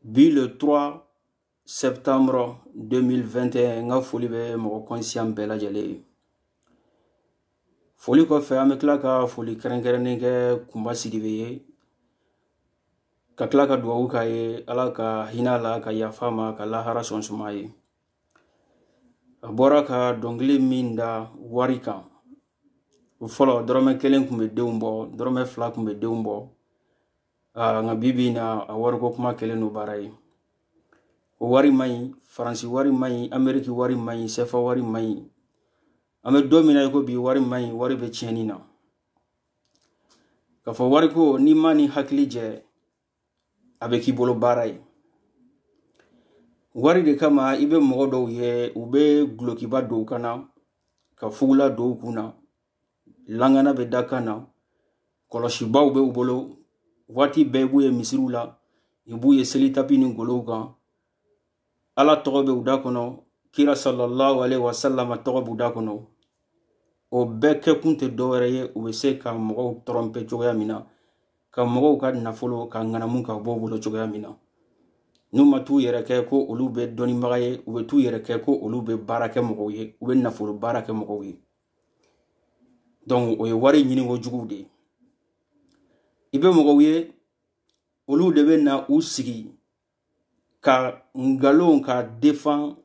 bi le 3 septembre 2021 n ka foli bɛ mɔgɔ kɔnsiyan bɛɛ lajɛlen ye foli kɔfɛ an bɛ tila ka foli kɛrɛnkɛrɛnnen kɛ kunba sidibe ye ka tila ka dugawu k'a ye ala ka hinɛ la ka yafa ma ka lahara sɔn suma ye a bɔra ka dɔnkili min da wari kan o fɔlɔ dɔrɔmɛ kelen tun bɛ denw bɔ dɔrɔmɛ fila tun bɛ denw bɔ aa nka bi bi in na a wariko kuma kɛlen don baara ye o wari man ɲi faransi wari man ɲi ameriki wari man ɲi sɛfa wari man ɲi an bɛ don min na i ko bi wari man ɲi wari bɛ tiɲɛni na k'a fɔ wariko n'i man'i hakili jɛ a bɛ k'i bolo baara ye wari de kama i bɛ mɔgɔ dɔw ye u bɛ dulokiba don u kan na ka fugula don u kun na langana bɛ da kan na kɔlɔsibaw bɛ u bolo waati bɛɛ i b'u ye misiriw la i b'u ye seli tapi ni golow kan ala tɔgɔ bɛ u da kɔnɔ kira sallallahu alaihi wasallam tɔgɔ b'u da kɔnɔ o bɛɛ kɛkun tɛ dɔwɛrɛ ye u bɛ se ka mɔgɔw tɔrɔnpɛ cogoya min na ka mɔgɔw ka nafolo ka ŋanamu ka bɔ u bolo cogoya min na n'u ma t'u yɛrɛ kɛ ko olu bɛ dɔnnibaga ye u bɛ t'u yɛrɛ kɛ ko olu bɛ baara kɛ mɔgɔw ye u bɛ nafolo baara kɛ mɔgɔw ye donc o ye wari ɲininko juguw de ye i bɛ mɔgɔw ye olu de bɛ na u sigi ka nkalon ka defan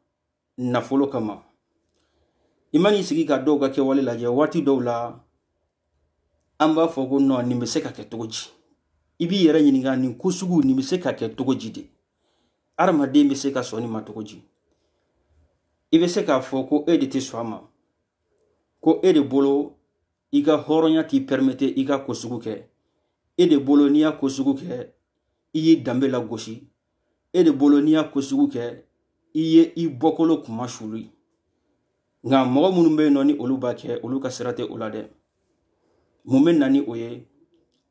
nafolo kama i man'i sigi ka dɔw ka kɛwale lajɛ waati dɔw la an b'a fɔ ko nɔ nin bɛ se ka kɛ cogo di i b'i yɛrɛ ɲininka nin ko sugu nin bɛ se ka kɛ cogo di de adamaden bɛ se ka sɔn nin ma cogo di i bɛ se k'a fɔ ko e de tɛ sɔn a ma ko e de bolo i ka hɔrɔnya t'i pɛrimete i k'a ko sugu kɛ e de bolo n'i y'a ko sugu kɛ i y'i danbe lagosi e de bolo n'i y'a ko sugu kɛ i ye i bɔkolo kunmasuli nka mɔgɔ minnu bɛ yen nɔ ni olu b'a kɛ olu ka sira tɛ o la dɛ mun bɛ na ni o ye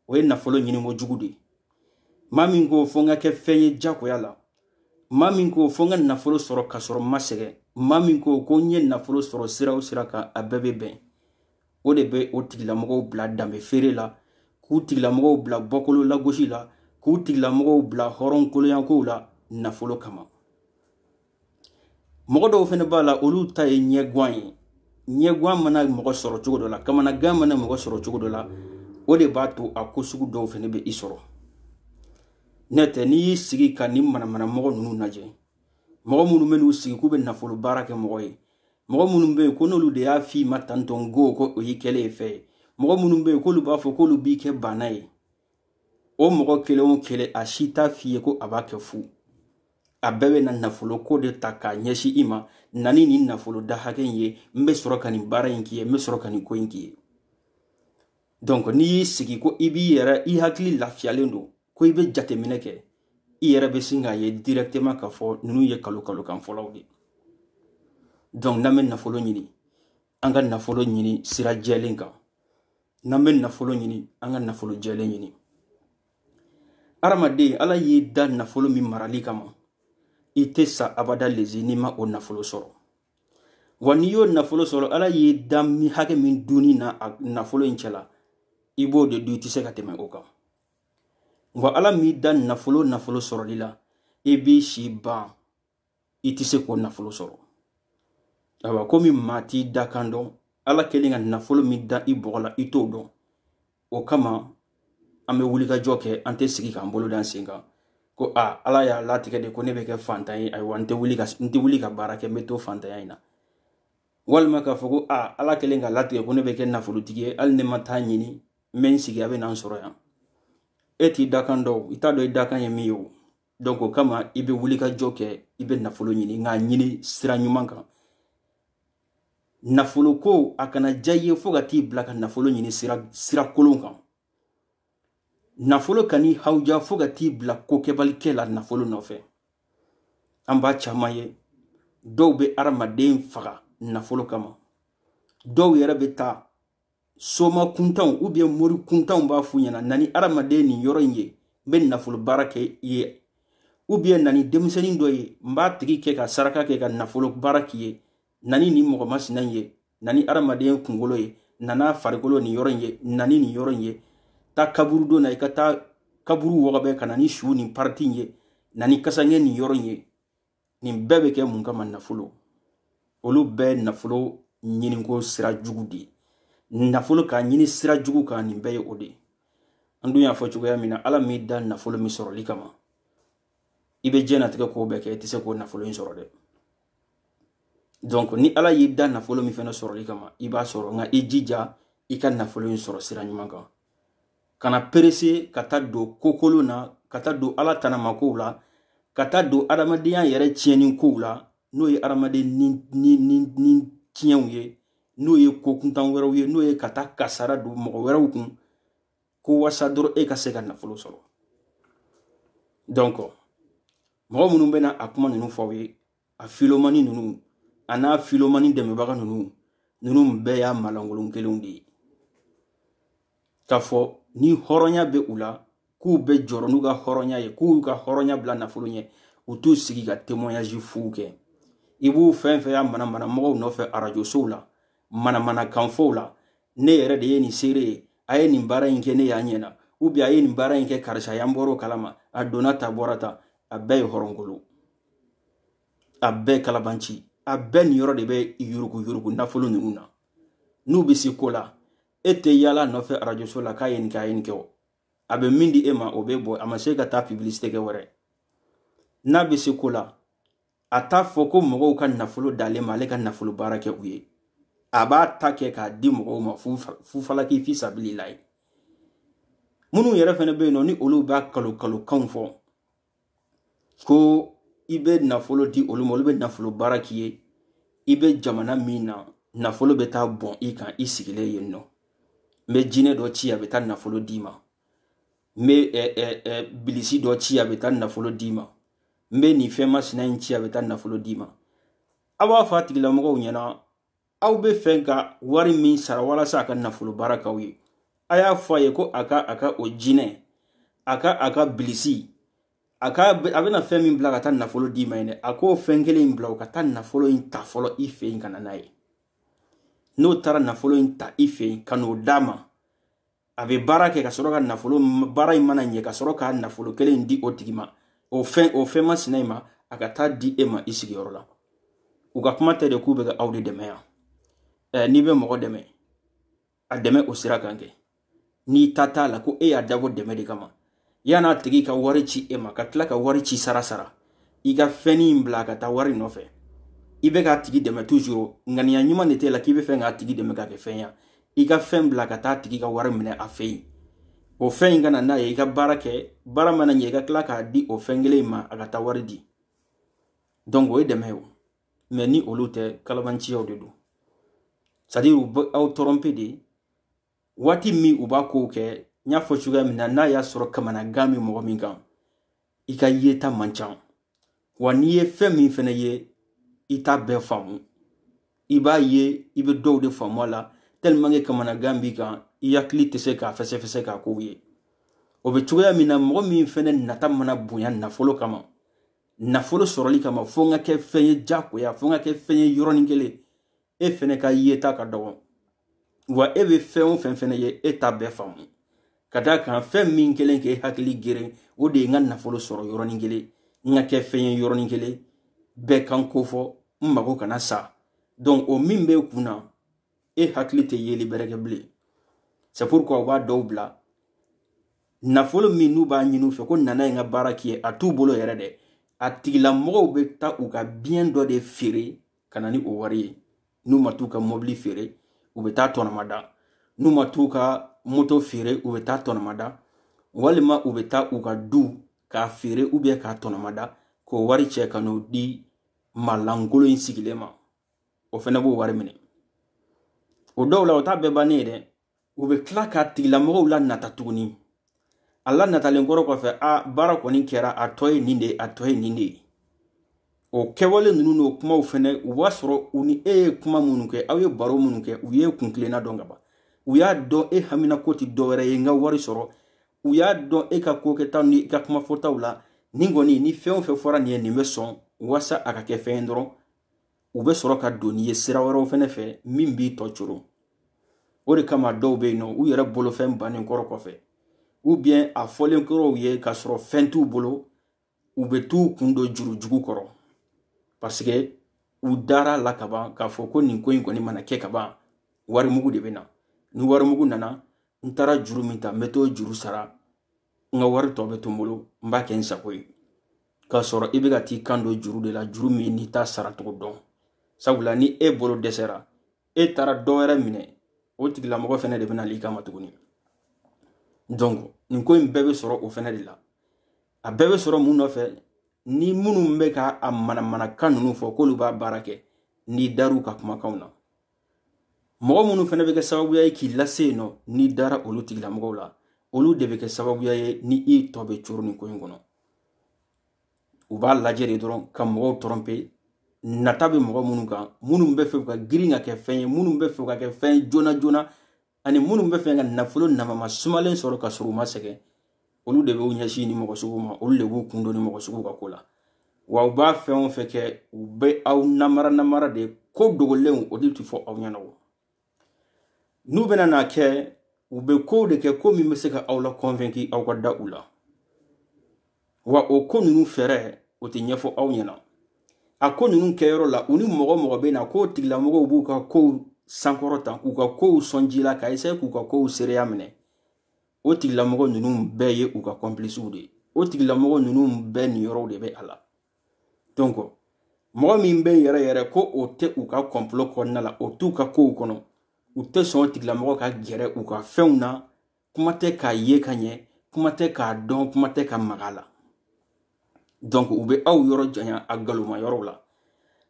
o ye nafolo ɲiniko jugu de ye maa min ko fo n ka kɛ fɛn ye jagoya la maa min ko fo n ka nafolo sɔrɔ ka sɔrɔ n ma sɛgɛn maa min ko ko n ye nafolo sɔrɔ sira o sira kan a bɛɛ bɛ bɛn o de bɛ o tigilamɔgɔw bila danbe feere la k'u tigilamɔgɔw bila bɔkolo lagosi la k'u tigilamɔgɔw bila hɔrɔnkoloyankow la nafolo kama mɔgɔ dɔw fana b'a la olu ta ye ɲɛgwan ye ɲɛgwan mana mɔgɔ sɔrɔ cogo dɔ la kamanagan mana mɔgɔ sɔrɔ cogo dɔ la o de b'a to a ko sugu dɔw fana bɛ i sɔrɔ n'o tɛ n'i y'i sigi ka nin manamana mɔgɔ ninnu lajɛ mɔgɔ minnu bɛ n'u sigi k'u bɛ nafolo baara kɛ mɔgɔ ye mɔgɔ minnu bɛ yen ko n'olu de y'a f'i ma tantɔn ko ko o y'i kɛlen ye fɛn ye mɔgɔ minnu bɛ yen k'olu b'a fɔ k'olu b'i kɛ baana ye o mɔgɔ kelen o kelen a si t'a f'i ye ko a b'a kɛ fu a bɛɛ bɛna nafolo ko de ta k'a ɲɛsin i ma na ni nin nafolo da hakɛ in ye n bɛ sɔrɔ ka nin baara in k'i ye n bɛ sɔrɔ ka nin ko in k'i ye donc n'i y'i sigi ko i b'i yɛrɛ i hakili lafiyalen don ko i bɛ jateminɛ kɛ i yɛrɛ bɛ sin k'a ye directement k'a fɔ ninnu ye nkalon nkalonkan fɔlaw de donc n'an bɛ nafolo ɲini an ka nafolo ɲini sira jɛlen kan n'an bɛ nafolo ɲini an ka nafolo jɛlen ɲini adamaden ala y'i da nafolo min marali kama i tɛ sa abada lezi n'i ma o nafolo sɔrɔ wa n'i y'o nafolo sɔrɔ ala y'i da min hakɛ min dunni na a nafolo in cɛla i b'o de dun i tɛ se ka tɛmɛ o kan wa ala m'i da nafolo nafolo sɔrɔli la i b'i si ban i tɛ se k'o nafolo sɔrɔ ayiwa komi maa t'i dakan dɔn ala kɛlen ka nafolo min da i bɔgɔ la i t'o dɔn o kama an bɛ wulikajɔ kɛ an tɛ sigi k'an bolo d'an sen kan ko a ala y'a latigɛ de ko ne bɛ kɛ fantan ye ayiwa n tɛ wuli ka n tɛ wuli ka baara kɛ n bɛ to fantanya in na walima k'a fɔ ko a ala kɛlen k'a latigɛ ko ne bɛ kɛ nafolotigi ye hali ne ma t'a ɲini n bɛ n sigi a bɛ na n sɔrɔ yan e t'i dakan dɔn i t'a dɔn i dakan ye min ye o donc o kama i bɛ wulikajɔ kɛ i bɛ nafolo ɲini nka a ɲini sira ɲuman kan nafolo ko a kana diya i ye fo ka t'i bila ka nafolo ɲini sira kolon kan nafolo kan'i hawuja fo ka t'i bila kokɛbalikɛ la nafolo nɔfɛ an b'a caman ye dɔw bɛ adamaden faga nafolo kama dɔw yɛrɛ bɛ taa soma kuntanw u bɛ yen mori kuntanw b'a f'u ɲɛna na ni adamaden nin yɔrɔ in ye n bɛ nafolo baara kɛ i ye u bɛ yen na ni denmisɛnnin dɔ ye n b'a tigi kɛ ka saraka kɛ ka nafolo baara k'i ye na ni nin mɔgɔ masina in ye na ni adamaden kunkolo ye na n'a farikolo nin yɔrɔ in ye na ni nin yɔrɔ in ye taa kaburudo na i ka taa kaburu wɔgɔbɛ ka na ni su nin pariti in ye na ni kasankɛ nin yɔrɔ in ye nin bɛɛ bɛ kɛ mun kama nafolo olu bɛɛ nafolo ɲiniko sira jugu de ye nafolo k'a ɲini sira jugu kan nin bɛɛ ye o de ye an dun y'a fɔ cogoya min na ala m'i da nafolo min sɔrɔli kama i bɛ diɲɛnatigɛ ko bɛɛ kɛ i tɛ se k'o nafolo in sɔrɔ dɛ donc ni ala y'i da nafolo min fana sɔrɔli kama i b'a sɔrɔ nka i jija i ka nafolo in sɔrɔ sira ɲuman kan kana perese ka taa don kokolon na ka taa don ala tanamakow la ka taa don adamadenya yɛrɛ tiɲɛni kow la n'o ye adamaden ni ni ni ni tiɲɛw ye n'o ye ko kuntan wɛrɛw ye n'o ye ka taa kasara don mɔgɔ wɛrɛw kun ko wasa dɔrɔn e ka se ka nafolo sɔrɔ donc mɔgɔ minnu bɛna a kuma ninnu fɔ aw ye a filomani ninnu a n'a filomani dɛmɛbaga ninnu ninnu bɛɛ y'a malankolon kelenw de ye k'a fɔ ni hɔrɔnya bɛ u la k'u bɛ jɔrɔ n'u ka hɔrɔnya ye k'u ka hɔrɔnya bila nafolo ɲɛ u t'u sigi ka témoignage fuw kɛ i b'u fɛn fɛn y'a manamana mɔgɔw nɔfɛ arajo sow la manamana kanfɔw la ne yɛrɛ de ye nin seere ye a ye nin baara in kɛ ne y'a ɲɛna ou bien a ye nin baara in kɛ karisa y'an bɔr'o kalama a donna tan bɔra tan a bɛɛ ye hɔrɔnkolon a bɛɛ kalabanci a bɛɛ niyɔrɔ de bɛ yurugu yurugu nafolo ninnu na n'u bɛ se ko la e tɛ yaala nɔfɛ arajoso la k'a ye nin kɛ a ye nin kɛ o a bɛ min di e ma o bɛ bɔ a ma se ka taa publicité kɛ wɛrɛ n'a bɛ se ko la a t'a fɔ ko mɔgɔw ka nafolo dalen ma ale ka nafolo baara kɛ u ye a b'a ta kɛ k'a di mɔgɔw ma fufalaki fi sabililayi minnu yɛrɛ fana bɛ yen nɔ ni olu b'a kalon kalon kanw fɔ ko i bɛ nafolo di olu ma olu bɛ nafolo baara k'i ye i bɛ jamana min na nafolo bɛ taa bɔn i kan i sigilen yen nɔ n bɛ jinɛ dɔ ci a bɛ taa nafolo d'i ma n bɛ ɛ ɛ ɛ bilisi dɔ ci a bɛ taa nafolo d'i ma n bɛ nin fɛn masina in ci a bɛ taa nafolo d'i ma a b'a fɔ a tigilamɔgɔw ɲɛna aw bɛ fɛ ka wari min sara walasa a ka nafolo baara k'aw ye a y'a fɔ a ye ko a ka a ka o jinɛ a ka a ka bilisi a ka a bɛna fɛn min bila ka taa nafolo d'i ma yen dɛ a k'o fɛn kelen in bila o ka taa nafolo in ta fɔlɔ i fɛ yen ka na n'a ye n'o taara nafolo in ta i fɛ yen ka n'o d'a ma a bɛ baara kɛ ka sɔrɔ ka nafolo baara in mana ɲɛ ka sɔrɔ ka nafolo kelen in di o tigi ma o fɛn o fɛn masina in ma a ka taa di e ma i sigiyɔrɔ la u ka kuma tɛ de k'u bɛ ka aw de dɛmɛ yan ɛɛ n'i bɛ mɔgɔ dɛmɛ a dɛmɛ o sira kan kɛ n'i ta t'a la ko e y'a dabɔ dɛmɛ de kama yan'a tigi ka wari ci e ma ka tila ka wari ci sara sara i ka fɛnni in bila ka taa wari nɔfɛ i bɛ k'a tigi dɛmɛ toujours ŋaniya ɲuman de t'e la k'i bɛ fɛ k'a tigi dɛmɛ ka kɛ fɛn ya i ka fɛn bila ka taa a tigi ka wari minɛ a fɛ yen o fɛn in ka na n'a ye i ka baara kɛ baara mana ɲɛ i ka tila k'a di o fɛn kelen in ma a ka taa wari di donc o ye dɛmɛ ye o mais ni olu tɛ kalabanciyaw de don c'est à dire aw tromper de waati min u b'a kow kɛ n y'a fɔ cogoya min na n'a y'a sɔrɔ kamanagan bɛ mɔgɔ min kan i ka yeta man ca wa n'i ye fɛn min fana ye i t'a bɛɛ faamu i b'a ye i bɛ dɔw de faamu a la tellement que kamanagan b'i kan i hakili tɛ se k'a fɛsɛfɛsɛ k'a kow ye o bɛ cogoya min na mɔgɔ min fana nata mana bonya nafolo kama nafolo sɔrɔli kama fo n ka kɛ fɛn ye jagoya fo n ka kɛ fɛn ye yɔrɔnin kelen e fɛnɛ ka yeta ka dɔgɔ wa e bɛ fɛn o fɛn fɛnɛ ye e t'a bɛɛ faamu ka d'a kan fɛn min kelen k'e hakili geren o de ye n ka nafolo sɔrɔ yɔrɔnin kelen n ka kɛ fɛn ye yɔrɔnin kelen bɛɛ kan ko fɔ n mago kana sa donc o min b'e kun na e hakili tɛ yeli bɛrɛ kɛ bilen c'est pourquoi u b'a dɔw bila nafolo min n'u b'a ɲini u fɛ ko na n'a ye n ka baara k'i ye a t'u bolo yɛrɛ dɛ a tigilamɔgɔw bɛ taa u ka bien dɔ de feere ka na ni o wari ye n'u ma t'u ka mɔbili feere u bɛ t'a tɔnɔmada n'u ma t'u ka moto feere u bɛ t'a tɔnɔmada walima u bɛ taa u ka du k'a feere ou bien k'a tɔnɔmada k'o wari cɛ ka n'o di malankolon in sigilen ma o fɛnɛ b'o wari minɛ o dɔw la o t'a bɛɛ bannen ye dɛ u bɛ tila k'a tigilamɔgɔw lanata tuguni a lanatalen kɔrɔ kɔfɛ a baara kɔni kɛra a tɔ ye nin de ye a tɔ ye nin de ye o kɛwale ninnu n'o kumaw fɛnɛ u b'a sɔrɔ u ni e ye kuma minnu kɛ aw ye baro minnu kɛ u y'e kuntilenna dɔn ka ban u y'a dɔn e haminanko tɛ dɔ wɛrɛ ye n ka wari sɔrɔ u y'a dɔn e ka ko kɛtaw ni i ka kuma fɔtaw la nin kɔni ni fɛn o fɛn fɔra nin ye nin bɛ sɔn wasa a ka kɛ fɛn ye dɔrɔn u bɛ sɔrɔ ka don n'i ye sira wɛrɛw fɛnɛ fɛ min b'i tɔ coron o de kama dɔw bɛ yen nɔ u yɛrɛ bolofɛn bannen kɔrɔ kɔfɛ ou bien a fɔlen kɔrɔ u ye k'a sɔrɔ fɛn t'u bolo u bɛ t'u kun don jurujugu kɔrɔ parce que u dar'a la ka ban k'a fɔ ko nin ko in kɔni mana kɛ ka ban warimugu de bɛ na ni warimugu nana n taara juru min ta n bɛ t'o juru sara n ka wari tɔ bɛ to n bolo n b'a kɛ n sago ye k'a sɔrɔ i bɛ ka t'i kan don juru de la juru min n'i t'a saracogo dɔn sabula ni e bolo dɛsɛra e taara dɔ wɛrɛ minɛ o tigilamɔgɔ fɛnɛ de bɛna wul'i kama tuguni donc nin ko in bɛɛ bɛ sɔrɔ o fɛnɛ de la a bɛɛ bɛ sɔrɔ mun nɔfɛ ni minnu bɛ ka a manamanakan ninnu fɔ k'olu b'a baara kɛ n'i dar'u ka kumakanw na mɔgɔ minnu fɛnɛ bɛ kɛ sababuya ye k'i lase yen nɔ n'i dara olu tigilamɔgɔw la olu de bɛ kɛ sababuya ye ni i tɔ bɛ coron nin ko in kɔnɔ u b'a lajɛ de dɔrɔn ka mɔgɔw tromper nata bɛ mɔgɔ minnu kan minnu bɛ fɛ ka girin ka kɛ fɛn ye minnu bɛ fɛ ka kɛ fɛn joona joona ani minnu bɛ fɛ ka nafolo namama sumalen sɔrɔ ka sɔrɔ u ma sɛgɛn olu de b'u ɲɛsin nin mɔgɔ suguw ma olu de b'u kun don nin mɔgɔ suguw ka ko la wa u b'a fɛn o fɛn kɛ u bɛ aw namara namara de ko dogolenw o de tɛ fɔ aw ɲɛna o n'u bɛna n'a kɛ u bɛ kow de kɛ ko min bɛ se ka aw la convaincu aw ka da u la wa o ko ninnu fɛɛrɛ o tɛ ɲɛfɔ aw ɲɛna a ko ninnu kɛyɔrɔ la u ni mɔgɔ o mɔgɔ bɛ na k'o tigilamɔgɔw b'u ka kow sankɔrɔta k'u ka kow sɔn ji la ka esaye k'u ka kow seereya minɛ o tigilamɔgɔ ninnu bɛɛ ye u ka kɔnpilisiw de ye o tigilamɔgɔ ninnu bɛɛ niyɔrɔw de bɛ a la donc mɔgɔ min bɛ yɛrɛ yɛrɛ ko o tɛ u ka kɔnpilo kɔnɔna la o t'u ka kow kɔnɔ u tɛ sɔn o tigilamɔgɔ ka gɛrɛ u ka fɛnw na kuma tɛ k'a ye ka ɲɛ kuma tɛ k'a dɔn kuma tɛ ka maga la donc u bɛ aw yɔrɔ janya a galoma yɔrɔw la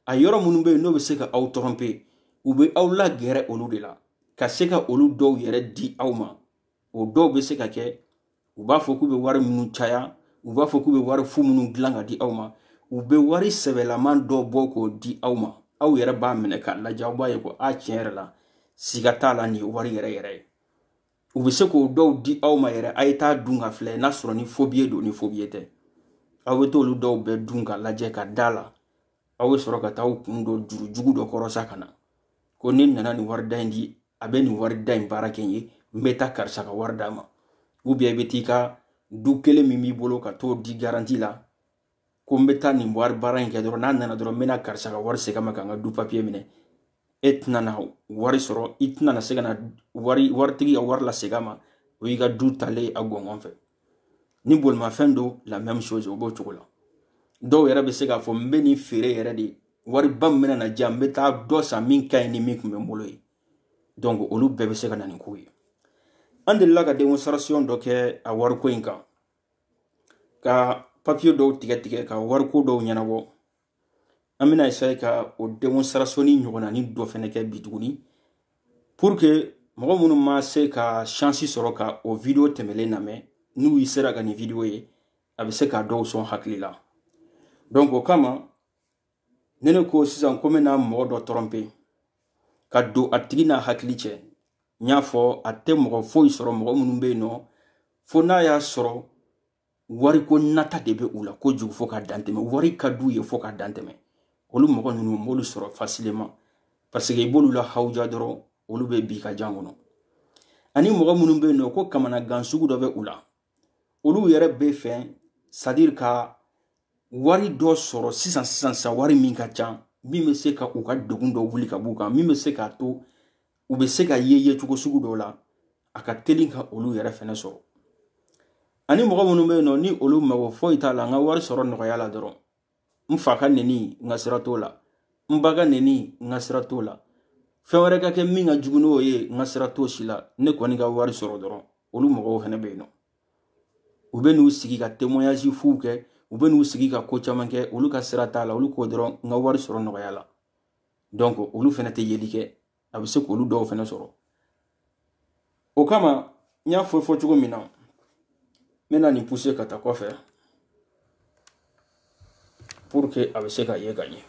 a yɔrɔ minnu bɛ yen n'o bɛ se ka aw tɔrɔnpe u bɛ aw lagɛrɛ olu de la ka se ka olu dɔw yɛrɛ di aw ma o dɔw bɛ se ka kɛ u b'a fɔ k'u bɛ wari minnu caya u b'a fɔ k'u bɛ wari fu minnu dilan ka di aw ma u bɛ wari sɛbɛlaman dɔ bɔ k'o di aw ma aw yɛrɛ b'a minɛ k'a lajɛ aw b'a ye ko a tiɲɛ yɛrɛ la siga t'a la nin ye wari yɛrɛ yɛrɛ ye u bɛ se k'o dɔw di aw ma yɛrɛ a ye t'a dun k'a filɛ n'a sɔrɔ ni fobiye don ni fobiye tɛ aw bɛ t'olu dɔw bɛɛ dun ka lajɛ ka da la aw bɛ sɔrɔ ka taa aw kun don juru jugu dɔ kɔrɔ sa ka na ko ne nana ni wari da in di a bɛ nin wari da in baara kɛ n ye n bɛ taa karisa ka wari d'a ma ubiyɛn i bɛ t'i ka du kelen min b'i bolo ka t'o di garanti la ko n bɛ taa nin wari baara in kɛ dɔrɔn n'a nana dɔrɔn n bɛna karisa ka wari segin a ma ka n ka du papiye minɛ e tɛna na wari sɔrɔ i tɛna na se ka na wari waritigi ka wari lasegin a ma o y'i ka du taalen a gɔngɔn fɛ ni bolimafɛn don la même chose o b'o cogo la dɔw yɛrɛ bɛ se k'a fɔ n bɛ nin feere yɛrɛ de wari ba min bɛna na diya n bɛ taa dɔ san min ka ɲi ni min tun bɛ n bolo ye donc olu bɛɛ bɛ se ka na nin ko ye an delila ka démonstration dɔ kɛ a wariko in kan ka papiye dɔw tigɛ tigɛ ka wariko dɔw ɲɛnabɔ an bɛna esaye ka o démonstration in ɲɔgɔnnanin dɔ fɛnɛ kɛ bi tuguni pour que mɔgɔ minnu ma se ka shansi sɔrɔ ka o video tɛmɛlen lamɛn n'u yi sera ka nin video ye a bɛ se ka dɔw sɔn hakili la donc o kama ne ne ko sisan ko n bɛna mɔgɔ dɔ tɔrɔnpe ka don a tigi n'a hakili cɛ n y'a fɔ a tɛ mɔgɔ foyi sɔrɔ mɔgɔ minnu bɛ yen nɔ fo n'a y'a sɔrɔ wariko nata de bɛ u la kojugu fo ka dantɛmɛ wari ka d'u ye fo ka dantɛmɛ olu mɔgɔ ninnu n b'olu sɔrɔ fasilema paseke i b'olu lahawuja dɔrɔn olu bɛ bin i ka jan kɔnɔ ani mɔgɔ minnu bɛ yen nɔ ko kamanagan sugu dɔ bɛ u la olu yɛrɛ b'a fɛ sadiri ka wari dɔ sɔrɔ sisan sisan sisan wari min ka ca min bɛ se ka u ka degun dɔ wuli ka b'u kan min bɛ se k'a to u bɛ se ka ye ye cogo sugu dɔw la a ka teli ka olu yɛrɛ fɛnɛ sɔrɔ ani mɔgɔ minnu bɛ yen nɔ ni olu mago foyi t'a la n ka wari sɔrɔ nɔgɔya la dɔrɔn n fa ka neni n ka sira t'o la n ba ka neni n ka sira t'o la fɛn wɛrɛ ka kɛ min ka jugu n'o ye n ka sira t'o si la ne kɔni ka wari sɔrɔ dɔrɔn olu mɔgɔw fɛnɛ bɛ yen nɔ u bɛ n'u sigi ka témoignage fuw kɛ u bɛ n'u sigi ka ko caman kɛ olu ka sira t'a la olu ko dɔrɔn n ka wari sɔrɔ nɔgɔya la donc olu fɛnɛ tɛ yeli kɛ a bɛ se k'olu dɔw fɛnɛ sɔrɔ o kama n y'a fɔ fɔ cogo min na n bɛna nin pousser ka taa kɔfɛ pour que a bɛ se ka ye ka ɲɛ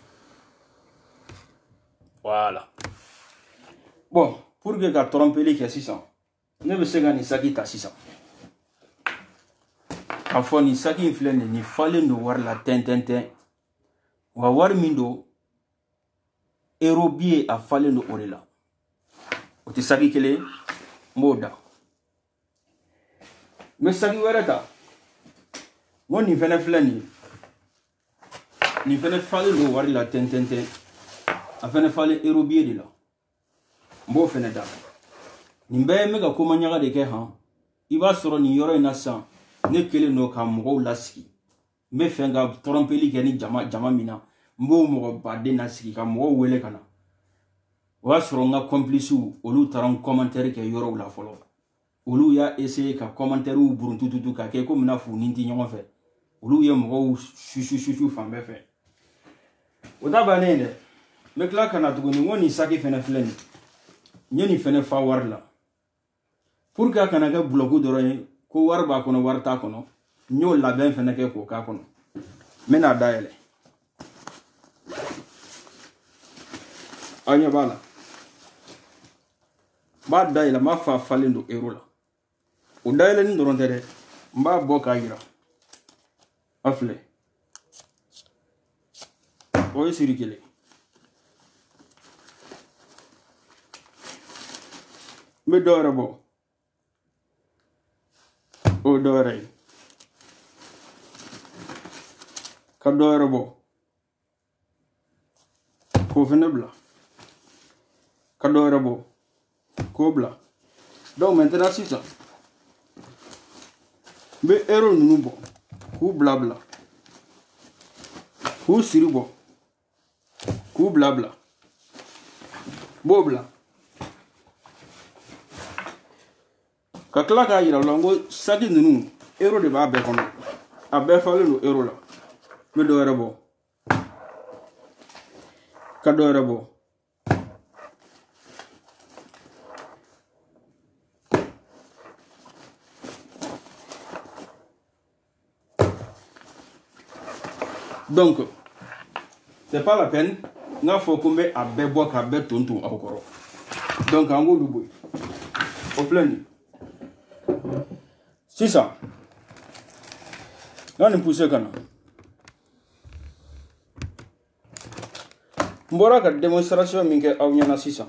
voilà bon pour que ka tɔrɔnpeli kɛ sisan ne bɛ se ka nin saki ta sisan k'a fɔ nin saki in filɛ nin nin falen don wari la tɛntɛntɛn wa wari min don ero biye a falen don o de la o tɛ saki kelen n b'o da n bɛ saki wɛrɛ ta n ko nin fɛnɛ filɛ nin nin fɛnɛ falen don wari la tɛntɛntɛn a fɛnɛ falen ero biye de la n b'o fɛnɛ da nin bɛɛ n bɛ ka komaɲaga de kɛ han i b'a sɔrɔ nin yɔrɔ in na sisan ne kelen don ka mɔgɔw lasigi n bɛ fɛ ka tɔrɔnpeli kɛ ni jama min na n b'o mɔgɔ baden lasigi ka mɔgɔw wele ka na o b'a sɔrɔ n ka kɔnpilisiw olu taara n kɔmantɛri kɛ yɔrɔw la fɔlɔ olu y'a essayer ka kɔmantɛriw buruntututu ka kɛ komi n'a f'u ni n tɛ ɲɔgɔn fɛ olu ye mɔgɔw susususu fan bɛɛ fɛ o t'a bannen dɛ n bɛ tila ka na tuguni n ko nin saki fɛnɛ filɛ nin n ye nin fɛnɛ fa wari la pour que a kana kɛ bulɔku dɔrɔn ye ko wari b'a kɔnɔ wari t'a kɔnɔ n y'o labɛn fɛnɛ kɛ k'o k'a kɔnɔ n bɛn'a dayɛlɛ aw ɲɛ b'a la n b'a dayɛlɛ n b'a fɔ a falen don ero la o dayɛlɛni dɔrɔn tɛ dɛ n b'a bɔ k'a yira a filɛ o ye siri kelen n bɛ dɔ wɛrɛ bɔ o ye dɔ wɛrɛ ye ka dɔ wɛrɛ bɔ k'o fɛnɛ bila ka dɔ wɛrɛ bɔ k'o bila donc maintenant sisan n bɛ ero ninnu bɔ k'u bila bila k'u siri bɔ k'u bila bila b'o bila ka tila k'a yira u la n ko saki ninnu euro de b'a bɛɛ kɔnɔ a bɛɛ falen don euro la n bɛ dɔ wɛrɛ bɔ ka dɔ wɛrɛ bɔ donc c'est pas la peine n k'a fɔ ko n bɛ a bɛɛ bɔ k'a bɛɛ ton ton aw kɔrɔ donc an k'olu bɔ yen o filɛ nin sisan n ka nin pousse ka na n bɔra ka démonstration min kɛ aw ɲɛna sisan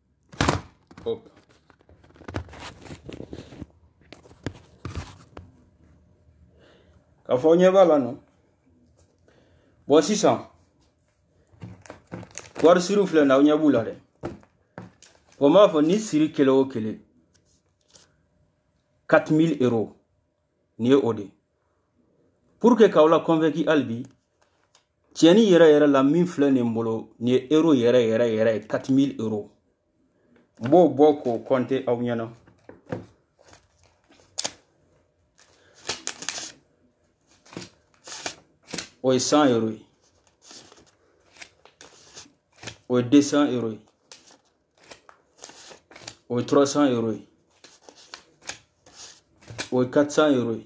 Hop. K'a fɔ aw ɲɛ b'a la nɔ bon sisan wari siriw filɛ na aw ɲɛ b'u la dɛ bon n b'a fɔ ni siri kelen o kelen 4000 euros nin ye o de ye pour que k'aw la convaincu hali bi tiɲɛni yɛrɛ yɛrɛ la min filɛ ne bolo nin ye euro yɛrɛ yɛrɛ yɛrɛ ye 4000 euro n b'o bɔ k'o kɔnte aw ɲɛna o ye 100 euro ye o ye 200 euro ye o ye 300 euro ye o ye 400 euro ye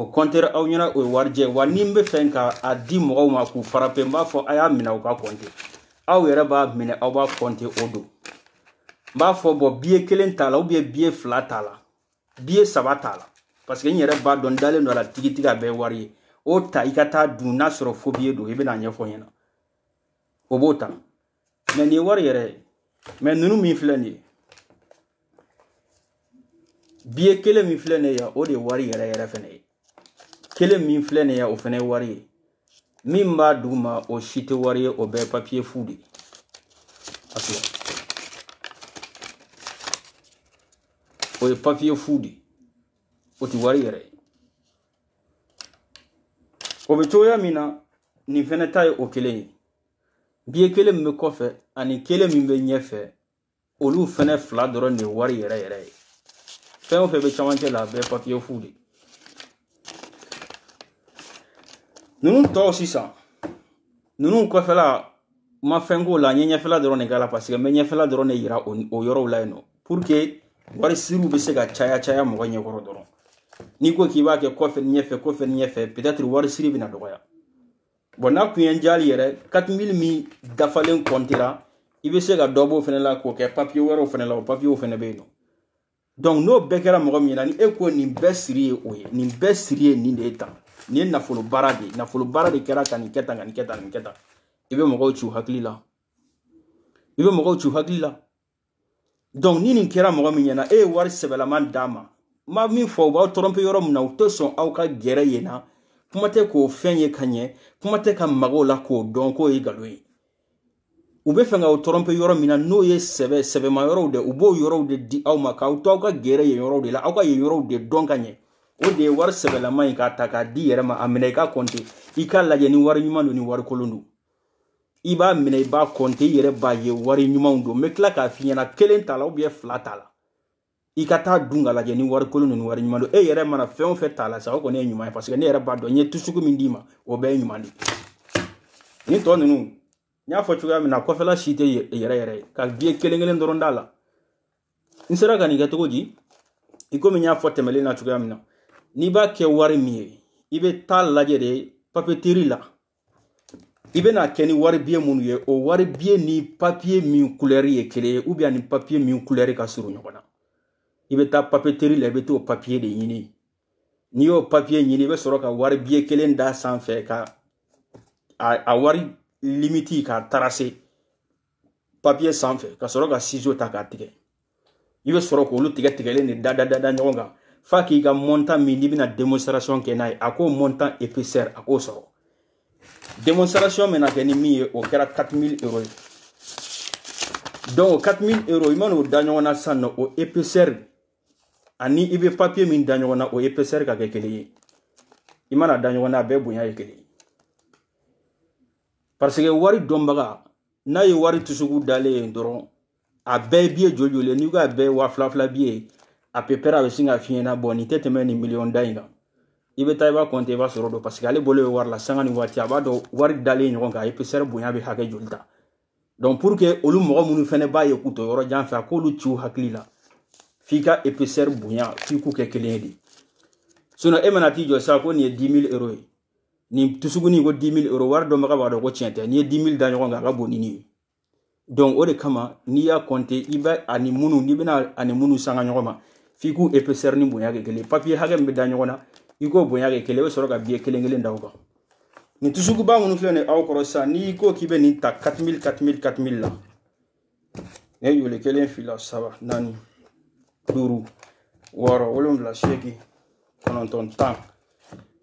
o kɔntere aw ɲɛna o ye warijɛ wa ni n bɛ fɛ ka a di mɔgɔw ma k'u farape n b'a fɔ a y'a minɛ u k'a kɔnte aw yɛrɛ b'a minɛ aw b'a kɔnte o don n b'a fɔ bon biye kelen t'a la ou bien biye fila t'a la biye saba t'a la parce que n yɛrɛ b'a dɔn n dalen don a la tigitigi a bɛɛ wari ye o ta i ka taa dun n'a sɔrɔ faux billet don i bɛna a ɲɛfɔ n ɲɛna o b'o ta mais nin ye wari yɛrɛ ye mais ninnu min filɛ nin ye biye kelen min filɛ nin ye yan o de ye wari yɛrɛ yɛrɛ fɛnɛ ye kelen min filɛ nin ye yan o fɛnɛ ye wari ye min b'a duguma o si tɛ wari ye o bɛɛ ye papiye fu de ye o ye papiye fu de ye o tɛ wari yɛrɛ ye o bɛ cogoya min na nin fɛnɛ ta ye o kelen ye biye kelen min bɛ kɔfɛ ani kelen min bɛ ɲɛfɛ olu fɛnɛ fila dɔrɔn de ye wari yɛrɛ yɛrɛ ye fɛn o fɛn bɛ camancɛ la a bɛɛ papiye fu de ninnu tɔw sisan ninnu kɔfɛla n ma fɛn k'o la n ye ɲɛfɛla dɔrɔn de k'a la parce que n bɛ ɲɛfɛla dɔrɔn de yira o yɔrɔw la yen nɔ pour que wari siriw bɛ se ka caya caya mɔgɔ ɲɛkɔrɔ dɔrɔn n'i ko k'i b'a kɛ kɔfɛ ni ɲɛfɛ kɔfɛ ni ɲɛfɛ peut-être wari siri bɛna dɔgɔya bon n'a kun ye hali yɛrɛ 4000 min dafalen kɔntera i bɛ se ka dɔ b'o fɛnɛ la k'o kɛ papiye wɛrɛw fɛnɛ la o papiyew fɛnɛ bɛ yen nɔ donc n'o bɛɛ kɛra mɔgɔ min na ni e ko nin bɛɛ siri ye o ye nin bɛɛ siri ye nin de ye tan nin ye nafolo baara de ye nafolo baara de kɛra ka nin kɛ tan ka nin kɛ tan nin kɛ tan i bɛ mɔgɔw ci u hakili la i bɛ mɔgɔw ci u hakili la donc ni nin kɛra mɔgɔ min ɲɛna e ye wari sɛbɛlama d'a ma n b'a min fɔ u b'aw tɔrɔnpe yɔrɔ min na u tɛ sɔn aw ka gɛrɛ yen na kuma tɛ k'o fɛn ye ka ɲɛ kuma tɛ ka maga o la k'o dɔn k'o ye nkalon ye u bɛ fɛ k'aw tɔrɔnpe yɔrɔ min na n'o ye sɛbɛ sɛbɛma yɔrɔw de u b'o yɔrɔw de di aw ma k'aw to aw ka gɛrɛ yen yɔrɔw de la aw ka yen yɔrɔw de dɔn ka ɲɛ o de ye wari sɛbɛlama ye k'a ta k'a d'i yɛrɛ ma a minɛ i k'a kɔnte i k'a lajɛ ni wari ɲuman don ni wari kolon don i b'a minɛ i b'a kɔnte i yɛrɛ b'a ye wari ɲumanw don n bɛ tila k'a f'i ɲɛna kelen t'a la ubiyɛn fila t'a la i ka taa dun k'a lajɛ ni wari kolon don ni wari ɲuman don e yɛrɛ mana fɛn o fɛn t'a la sa o kɔni ye ɲuman ye paseke ne yɛrɛ b'a dɔn n ye tusuku min d'i ma o bɛɛ ye ɲuman de ye nin tɔ ninnu n y'a fɔ cogoya min na kɔfɛla si tɛ yɛrɛ yɛrɛ ye ka biye kelen kelen dɔrɔn d'a la n sera ka nin kɛ cogo di i komi n y'a fɔ tɛmɛlen na cogoya min na n'i b'a kɛ wari min ye i bɛ taa lajɛ de papeteri la i bɛna kɛ ni wari biye minnu ye o wari biye ni papiye min kulɛri ye kelen ye ubiyɛn ni papiye min kulɛri ka surun ɲɔgɔn na i bɛ taa papeteri la i bɛ t'o papiye de ɲini n'i y'o papiye ɲini i bɛ sɔrɔ ka wari biye kelen d'a sanfɛ ka a wari limiti k'a tarase papiye sanfɛ ka sɔrɔ ka sizo ta k'a tigɛ i bɛ sɔrɔ k'olu tigɛ tigɛlen de da da da da ɲɔgɔn kan f'a k'i ka montant min n'i bɛna démonstration kɛ n'a ye a k'o montant épaisseur a k'o sɔrɔ démonstration bɛna kɛ ni min ye o kɛra 4000 euros ye donc o 4000 euros i mana o da ɲɔgɔn na sisan nɔ o épaisseur ani i bɛ papier min da ɲɔgɔn na o épaisseur ka kɛ kelen ye i mana da ɲɔgɔn na a bɛɛ bonya ye kelen ye parce que wari dɔnbaga n'a ye wari tusuku dalen ye dɔrɔn a bɛɛ biye joli joli n'i ko a bɛɛ waa fila fila biye à peu près a bɛ sin k'a f'i ɲɛna bon nin tɛ tɛmɛ nin miliyɔn da in kan i bɛ taa i b'a kɔnte i b'a sɔrɔ o don parce que ale bolo bɛ wari la sanga ni waati a b'a dɔn wari dalen ɲɔgɔn kan a épaisseur bonya bɛ hakɛ joli ta donc pour que olu mɔgɔ minnu fɛnɛ b'a ye k'u to yɔrɔ jan fɛ a k'olu ci u hakili la f'i ka épaisseur bonya f'i k'u kɛ kelen ye de sinon e mana t'i jɔ sisan ko nin ye 10 000 euro ye nin tusuguni ko 10 000 euro wari dɔnbaga b'a dɔn ko tiɲɛ tɛ n'i ye 10 000 da ɲɔgɔn kan a ka bon ni nin ye donc o de kama n'i y'a kɔnte i bɛ ani minnu n'i bɛna ani minnu sanga ɲɔgɔn ma f'i k'u épaisseur ni bonya kɛ kelen papiye hakɛ min bɛ da ɲɔgɔn na i k'o bonya kɛ kelen i bɛ sɔrɔ ka biye kelen kelen da o kan nin tusukuba minnu filɛ nin aw kɔrɔ sisan n'i ko k'i bɛ nin ta 4000 4000 4000 la ne yole kelen fila saba naani duuru wɔɔrɔ wolonwula seegin kɔnɔntɔn tan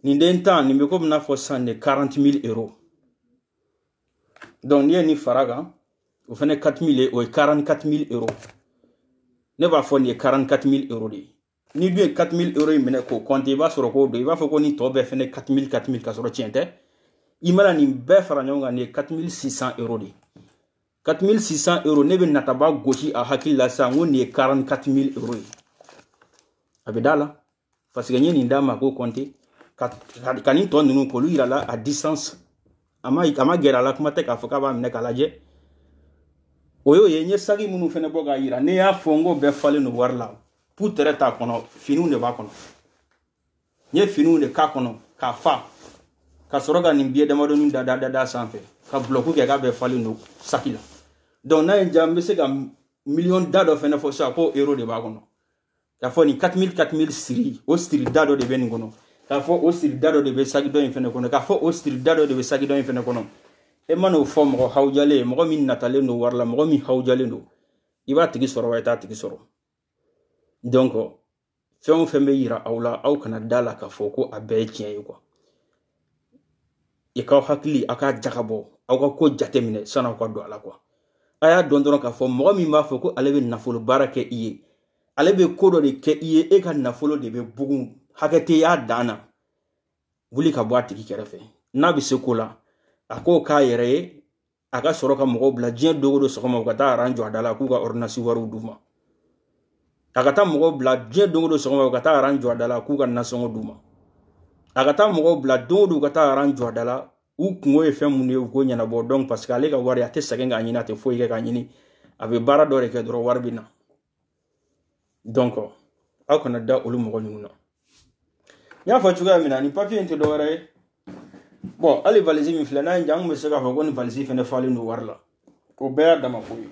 nin den tan nin bɛ komi n'a fɔ sisan de 40 000 euros donc n'i ye nin fara a kan o fana 4000 o ye 44000 euro ne b'a fɔ nin ye 44000 euro de ye n'i dun ye 4000 euro in minɛ k'o compter i b'a sɔrɔ k'o don i b'a fɔ ko nin tɔ bɛɛ fana 4000 4000 ka sɔrɔ tiɲɛ tɛ i mana nin bɛɛ fara ɲɔgɔn kan nin ye 4600 euro de ye 4600 euro ne bɛ nataba gosi a hakili la sisan ko nin ye 44000 euro ye a bɛ d'a la parce que n ye nin d'a ma k'o kɔnte ka, ka, ka nin tɔ ninnu k'olu yira a la à distance a ma a ma gɛrɛ a la kuma tɛ k'a fɔ k'a b'a minɛ k'a lajɛ o y'o ye n ye saki minnu fɛnɛ bɔ k'a yira ne y'a fɔ n k'o bɛɛ falen don wari la pu tɛrɛ t'a kɔnɔ finiw de b'a kɔnɔ n ye finiw de k'a kɔnɔ k'a fa ka sɔrɔ ka nin biye damadɔni da da da da sanfɛ ka bulɔku kɛ k'a bɛɛ falen don saki la donc n'a ye n diya n bɛ se ka miliyɔn da dɔ fɛnɛ fɔ sisan ko euro de b'a kɔnɔ k'a fɔ nin 4000 4000 siri o siri da dɔ de bɛ nin kɔnɔ k'a fɔ o siri da dɔ de bɛ saki dɔ in fɛnɛ kɔnɔ k'a fɔ o siri da dɔ de bɛ saki dɔ in fɛnɛ kɔnɔ e man'o fɔ mɔgɔ hawujalen ye mɔgɔ min natalen don wari la mɔgɔ min hawujalen don i b'a tigi sɔrɔ wa i t'a tigi sɔrɔ donc fɛn o fɛn bɛ yira aw la aw kana d'a la k'a fɔ ko a bɛɛ ye tiɲɛ ye quoi i k'aw hakili aw k'a jagabɔ aw ka ko jate minɛ sani aw ka don a la quoi a y'a dɔn dɔrɔn k'a fɔ mɔgɔ min b'a fɔ ko ale bɛ nafolo baara kɛ i ye ale bɛ ko dɔ de kɛ i ye e ka nafolo de bɛ bugun hakɛ tɛ y'a dan na wuli ka bɔ a tigi kɛrɛfɛ n'a bɛ se ko la a k'o k'a yɛrɛ ye a ka sɔrɔ ka mɔgɔw bila diɲɛ don o don sɔgɔma u ka taa aran jɔ a da la k'u ka ɔridɔnansi wariw d'u ma a ka taa mɔgɔw bila diɲɛ don o don sɔgɔma u ka taa aran jɔ a da la k'u ka nasɔngɔ d'u ma a ka taa mɔgɔw bila don o don u ka taa aran jɔ a da la u kunko ye fɛn mun ye u k'o ɲɛnabɔ donc parce que ale ka wari a tɛ sɛgɛn k'a ɲini a tɛ foyi kɛ k'a ɲini a bɛ baara dɔ de kɛ dɔrɔn wari bɛ na donc aw kana da olu mɔgɔ ninnu na n y'a fɔ cogoya min na nin papiye in tɛ dɔwɛrɛ ye bon hali valisi min filɛ n'a ye n diya n tun bɛ se k'a fɔ ko nin valisi fɛnɛ falen don wari la o bɛɛ y'a dama ko ye n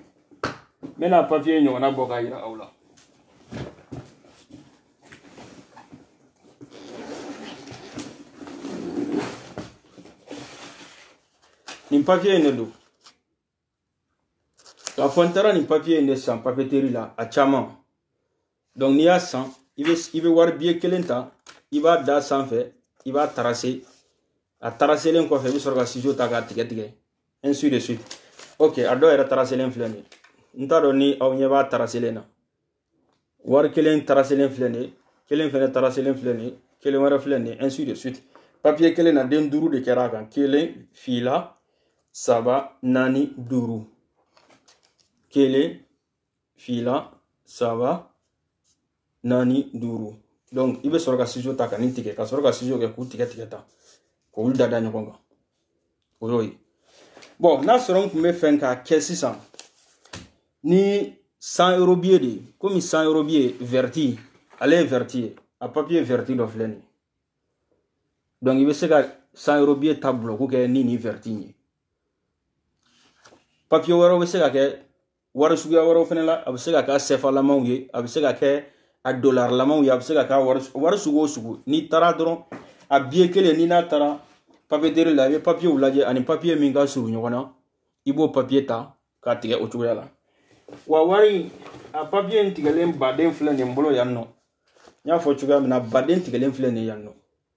bɛna papiye ɲɔgɔnna bɔ k'a yira aw la nin papiye in de don k'a fɔ n taara nin papiye in de san papeteri la a caman donc n'i y'a san i bɛ i bɛ wari biye kelen ta i b'a da sanfɛ i b'a tarase a taraselen kɔfɛ i bɛ sɔrɔ ka sizo ta k'a tigɛ tigɛ ainsi de suite ok a dɔw yɛrɛ taraselen filɛ nin ye n t'a dɔn ni aw ɲɛ b'a taraselen na wari kelen taraselen filɛ nin ye kelen fɛnɛ taraselen filɛ nin ye kelen wɛrɛ filɛ nin ye ainsi de suite papiye kelen na den duuru de kɛra a kan kelen fila saba naani duuru kelen fila saba naani duuru donc i bɛ sɔrɔ ka sizo ta ka nin tigɛ ka sɔrɔ ka sizo kɛ k'u tigɛ tigɛ tan k'olu da da ɲɔgɔn kan o y'o ye bɔn n'a sɔrɔ n tun bɛ fɛ k'a kɛ sisan ni cent euro biye de ye komi cent euro biye vɛrɛti ale ye vɛrɛti ye a papiye vɛrɛti dɔ filɛ nin ye donc i bɛ se ka cent euro biye ta bulɔku kɛ ni nin vɛrɛti in ye papiye wɛrɛw bɛ se ka kɛ wari suguya wɛrɛw fana la a bɛ se ka kɛ sɛfalamaw ye a bɛ se ka kɛ a dolarlamaw ye a bɛ se ka kɛ wari sugu o sugu n'i taara dɔrɔn a biye kelen n'i n'a taara papeterie la i bɛ papiyew lajɛ ani papiye min ka surun ɲɔgɔn na i b'o papiye ta k'a tigɛ o cogoya la wa wari a papiye in tigɛlen baden filɛ nin bolo yan nɔ n y'a fɔ cogoya min na baden tigɛlen filɛ nin yan nɔ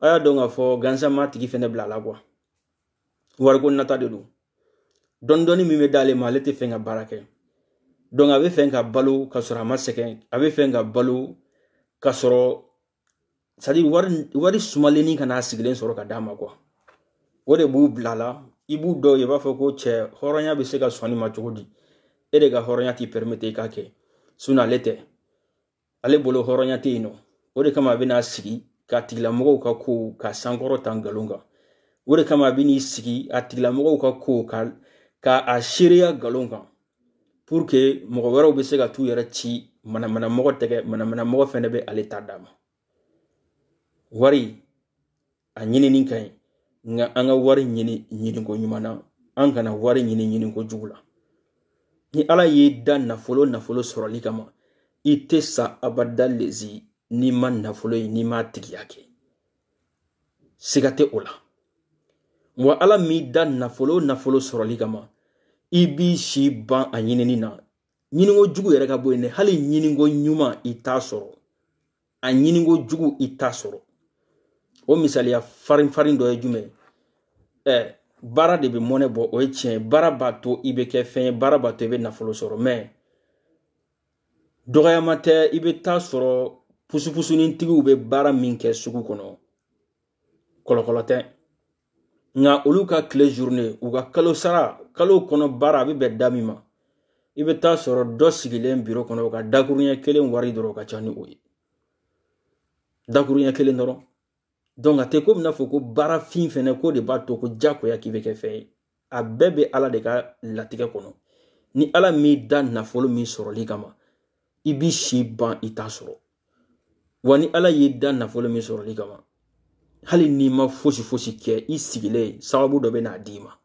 a y'a dɔn k'a fɔ gansan m'a tigi fɛnɛ bila a la quoi wariko nata de don dɔɔni min bɛ d'ale ma ale tɛ fɛ ka baara kɛ donc a bɛ fɛ ka balo ka sɔrɔ a ma sɛgɛn a bɛ fɛ ka balo ka sɔrɔ c'est à dire wari wari sumalennin ka na a sigilen sɔrɔ ka d'a ma quoi o de b'u bila la i b'u dɔw ye i b'a fɔ ko cɛ hɔrɔnya bɛ se ka sɔn nin ma cogo di e de ka hɔrɔnya t'i pɛrimete i k'a kɛ sinɔn ale tɛ ale bolo hɔrɔnya tɛ yen nɔ o de kama a bɛn'a sigi k'a tigilamɔgɔw ka ko k'a sankɔrɔta nkalon kan o de kama a bɛn'i sigi a tigilamɔgɔw ka ko ka a seereya nkalon kan pour que mɔgɔ wɛrɛw bɛ se ka t'u yɛrɛ ci manamanamɔgɔ tɛgɛ manamanamɔgɔ fɛnɛ bɛ ale ta d'a ma wari a ɲinini ka ɲi nka an ka wari ɲini ɲiniko ɲuman na an kana wari ɲini ɲiniko jugu la ni ala y'i da nafolo nafolo sɔrɔli kama i tɛ sa abada lezi n'i ma nafolo ye n'i m'a tigiya kɛ siga tɛ o la wa ala m'i da nafolo nafolo sɔrɔli kama i b'i si ban a ɲinini na ɲininko jugu yɛrɛ ka bɔ yen dɛ hali ɲininko ɲuman i t'a sɔrɔ a ɲininko jugu i t'a sɔrɔ o misaliya farin farin dɔ ye jumɛn ye ɛɛ baara de bɛ mɔnɛ bɔ o ye tiɲɛ ye baara b'a to i bɛ kɛ fɛn ye baara b'a to i bɛ nafolo sɔrɔ mɛ dɔgɔyama tɛ i bɛ t'a sɔrɔ pusupusunintigiw bɛ baara min kɛ sugu kɔnɔ kɔlɔkɔlɔ tɛ nka olu ka tile journée u ka kalo sara kalo kɔnɔ baara a bɛ bɛn da min ma i bɛ t'a sɔrɔ dɔ sigilen biro kɔnɔ u ka dakuruɲɛ kelen wari dɔrɔn ka ca ni o ye dakuruɲɛ kelen dɔrɔn donc a tɛ ko bɛn'a fɔ ko baara fin fɛnɛ ko de b'a to ko jagoya k'i bɛ kɛ fɛn ye a bɛɛ bɛ ala de ka latigɛ kɔnɔ ni ala m'i da nafolo min sɔrɔli kama i b'i si ban i t'a sɔrɔ wa ni ala y'i da nafolo min sɔrɔli kama hali n'i ma fosi fosi kɛ i sigilen sababu dɔ bɛ n'a d'i ma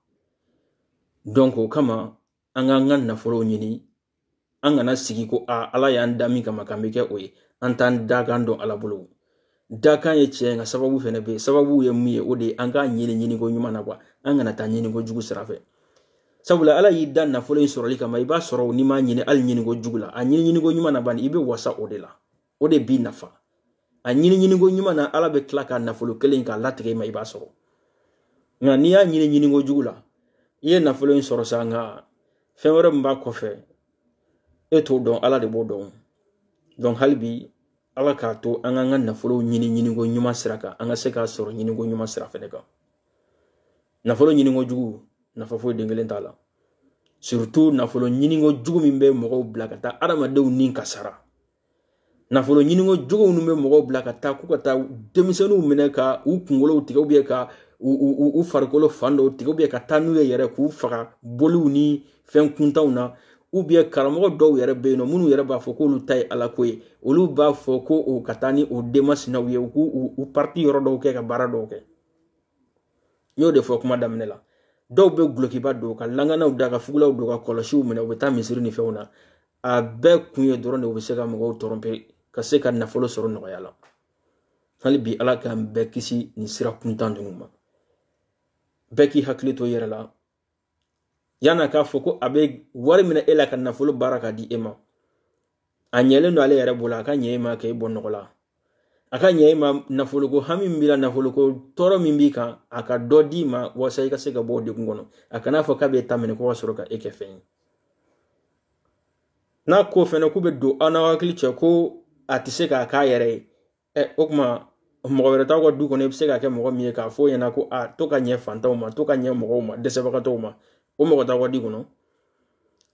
donc o kama an k'an ka nafolo ɲini an kana sigi ko a ala y'an da min kama k'an bɛ kɛ o ye an t'an dakan dɔn ala bolo dakan ye tiɲɛ nka sababu fɛnɛ bɛ yen sababu ye mun ye o de ye an k'a ɲini ɲiniko ɲuman na quoi an kana taa ɲiniko jugu sira fɛ sabula ala y'i da nafolo in sɔrɔli kama i b'a sɔrɔ n'i m'a ɲini hali ɲiniko jugu la a ɲini ɲiniko ɲuman na bani i bɛ wasa o de la o de b'i nafa a ɲini ɲiniko ɲuman na ala bɛ tila ka nafolo kelen k'a latigɛ i ma i b'a sɔrɔ nka n'i y'a ɲini ɲiniko jugu la i ye nafolo in sɔrɔ sa nka fɛn wɛrɛ min b'a kɔfɛ e t'o dɔn ala de b'o dɔn donc hali bi ala k'a to an k'an ka nafolo ɲini ɲiniko ɲuman sira kan an ka se k'a sɔrɔ ɲiniko ɲuman sira fɛnɛ kan nafolo ɲiniko jugu nafa foyi den kelen t'a la surtout nafolo ɲiniko jugu min bɛ mɔgɔw bila ka taa adamadenw ni kasara nafolo ɲiniko jugu minnu bɛ mɔgɔw bila ka taa k'u ka taa denmisɛnninw minɛ ka u kunkolow tigɛ ou bien ka u farikolo fan dɔw tigɛ ou bien ka taa n'u ye yɛrɛ k'u faga boliw ni fɛn kuntanw na ou bien karamɔgɔ dɔw yɛrɛ bɛ yen nɔ minnu yɛrɛ b'a fɔ k'olu ta ye ala ko ye olu b'a fɔ ko o ka taa ni o denmasinaw ye u k'u u partie yɔrɔ dɔw kɛ ka baara dɔw kɛ n y'o de fɔ kuma daminɛ la dɔw bɛ gulokiba don ka langanaw da ka fugulaw don ka kɔlɔsiw minɛ u bɛ taa misiri ni fɛnw na a bɛɛ kun ye dɔrɔn de u bɛ se ka mɔgɔw tromper ka se ka nafolo sɔrɔ nɔgɔya la hali bi ala k'an bɛɛ kisi nin sira kuntan ninnu ma bɛɛ k'i hakili to i yɛrɛ la yan'a k'a fɔ ko a bɛ wari minɛ e la ka nafolo baara k'a di e ma a ɲɛlen don ale yɛrɛ bolo a ka ɲɛ e ma k'e bɔ nɔgɔ la a ka ɲɛ e ma nafoloko hami min b'i la nafoloko tɔɔrɔ min b'i kan a ka dɔ d'i ma walasa i ka se ka bɔ o degun kɔnɔ a kana fɔ k'a b'e ta minɛ ko ka sɔrɔ ka e kɛ fɛn ye n'a ko fɛnɛ k'u bɛ don aw n'aw hakili cɛ ko a tɛ se k'a k'a yɛrɛ ye ɛ o kuma mɔgɔ wɛrɛ t'aw ka du kɔnɔ i bɛ se ka kɛ mɔgɔ min ye k'a fɔ o ɲɛna ko a to ka ɲɛ fantanw ma to ka ɲɛ mɔgɔw ma dɛsɛbagatɔw ma o mɔgɔ t'aw ka du kɔnɔ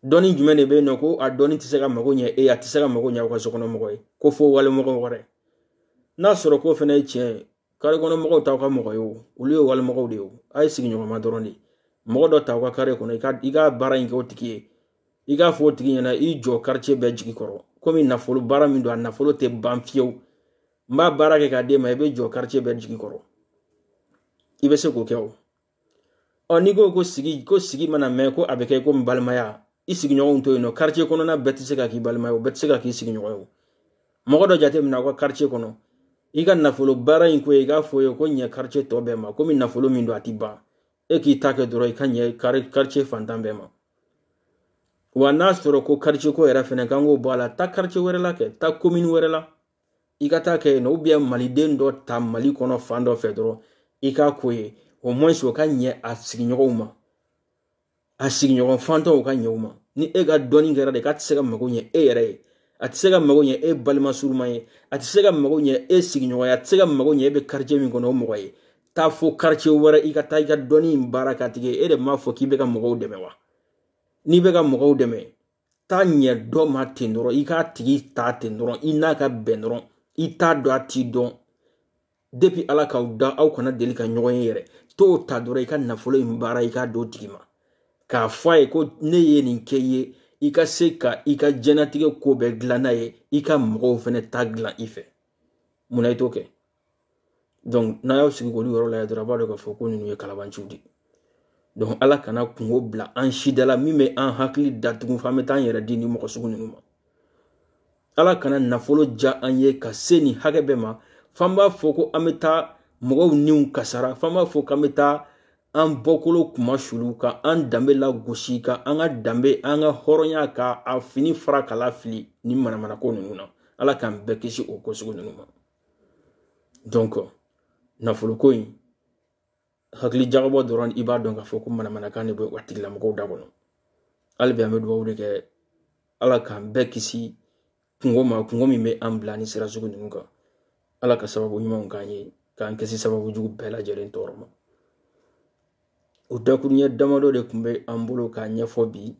dɔnni jumɛn de bɛ yen nɔ ko a dɔnni tɛ se ka mago ɲɛ e a tɛ se ka mago ɲɛ aw ka so kɔnɔ mɔgɔ ye ko fo walimɔgɔ wɛrɛ n'a sɔrɔ k'o fɛnɛ ye tiɲɛ ye kare kɔnɔ mɔgɔw t'aw ka mɔgɔ ye o olu ye walimɔgɔw de ye o a ye sigiɲɔgɔnma dɔrɔn de ye mɔgɔ dɔ ta aw ka kare kɔnɔ i ka i ka baara in kɛ o tigi ye i k'a fɔ o tigi ɲɛna i jɔ quartier bɛɛ jigi kɔrɔ komi nafolo baara min don a nafolo tɛ ban fiyewu n b'a baara kɛ k'a d'e ma i bɛ jɔ quartier bɛɛ jigi kɔrɔ i bɛ se k'o kɛ o ɔ n'i ko ko sigi ko sigi mana mɛn ko a bɛ kɛ komi balimaya i sigiɲɔgɔnw to yen nɔ quartier kɔnɔna bɛɛ tɛ se ka k'i balimaya o bɛɛ tɛ se ka k'i sigiɲɔgɔn ye o mɔgɔ dɔ jateminɛ aw ka quartier kɔnɔ i ka nafolo baara in ko ye i k'a fɔ ye ko ɲɛ quartier tɔ bɛɛ ma komi nafolo min don a tɛ ban e k'i ta kɛ dɔrɔn i ka ɲɛ quartier fantan bɛɛ ma wa n'a sɔrɔ ko karice ko yɛrɛ fɛnɛ kan k'o bɔ a la taa karice wɛrɛ la kɛ taa komini wɛrɛ la i ka taa kɛ yen nɔ ubiyɛn maliden dɔ ta mali kɔnɔ fan dɔ fɛ dɔrɔn i k'a k'o ye au moins o ka ɲɛ a sigiɲɔgɔnw ma a sigiɲɔgɔn fantanw ka ɲɛ u ma ni e ka dɔnni kɛra de k'a tɛ se ka mago ɲɛ e yɛrɛ ye a tɛ se ka mago ɲɛ e balima surunman ye a tɛ se ka mago ɲɛ e sigiɲɔgɔn ye a tɛ se ka mago ɲɛ e bɛ karice min kɔnɔ o mɔgɔ ye taa fo karice wɛrɛ i ka taa i ka dɔnni in baara k'a tigi ye e de m'a fɔ k'i bɛ ka mɔgɔw dɛmɛ wa n'i bɛ ka mɔgɔw dɛmɛ taa ɲɛ dɔ ma ten dɔrɔn i k'a tigi ta ten dɔrɔn i n'a ka bɛn dɔrɔn i t'a dɔn a t'i dɔn depi ala k'aw da aw kana deli ka ɲɔgɔn ye yɛrɛ t'o ta dɔrɔn i ka nafolo in baara i k'a d'o tigi ma k'a fɔ a ye ko ne ye nin kɛ i ye i ka se ka i ka jɛnatigɛ ko bɛɛ dilan n'a ye i ka mɔgɔw fɛnɛ ta dilan i fɛ mun na i t'o kɛ donc n'a y'aw sigi k'olu yɔrɔ lajɛ dɔrɔn a b'a dɔn k'a fɔ ko ninnu ye kalabanciw de donc ala kana kunko bila an si da la min bɛ an hakili datugu f'an bɛ taa an yɛrɛ di ni mɔgɔ sugu ninnu ma ala kana nafolo diya an ye ka se nin hakɛ bɛɛ ma f'an b'a fɔ ko an bɛ taa mɔgɔw niw kasara f'an b'a fɔ k'an bɛ taa an bɔkolo kunmasuuli ka an danbe lagosi ka an ka danbe an ka hɔrɔnya ka a fini fara k'a lafili ni manamanako ninnu na ala k'an bɛɛ kisi o ko sugu ninnu ma donc nafoloko in hakili jagabɔ dɔrɔn i b'a dɔn k'a fɔ ko manamanakan de bɛ o tigilamɔgɔw da kɔnɔ hali bi an bɛ dugawu de kɛ ala k'an bɛɛ kisi kunko ma kunko min bɛ an bila ni sira sugu ninnu kan ala ka sababu ɲumanw k'an ye k'an kisi sababu jugu bɛɛ lajɛlen tɔɔrɔ ma o dakuruɲɛ damadɔ de tun bɛ an bolo k'a ɲɛfɔ bi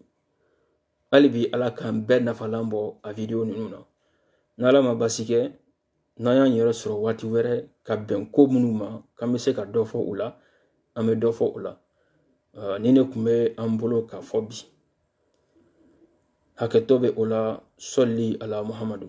hali bi ala k'an bɛɛ nafalan bɔ a vidiyo ninnu na n'ala ma basi kɛ n'an y'an yɛrɛ sɔrɔ waati wɛrɛ ka bɛn ko minnu ma k'an bɛ se ka dɔ fɔ u la an bɛ dɔ fɔ u la nin de tun bɛ an bolo k'a fɔ bi hakɛtɔ bɛ o la sɔli ala muhamadu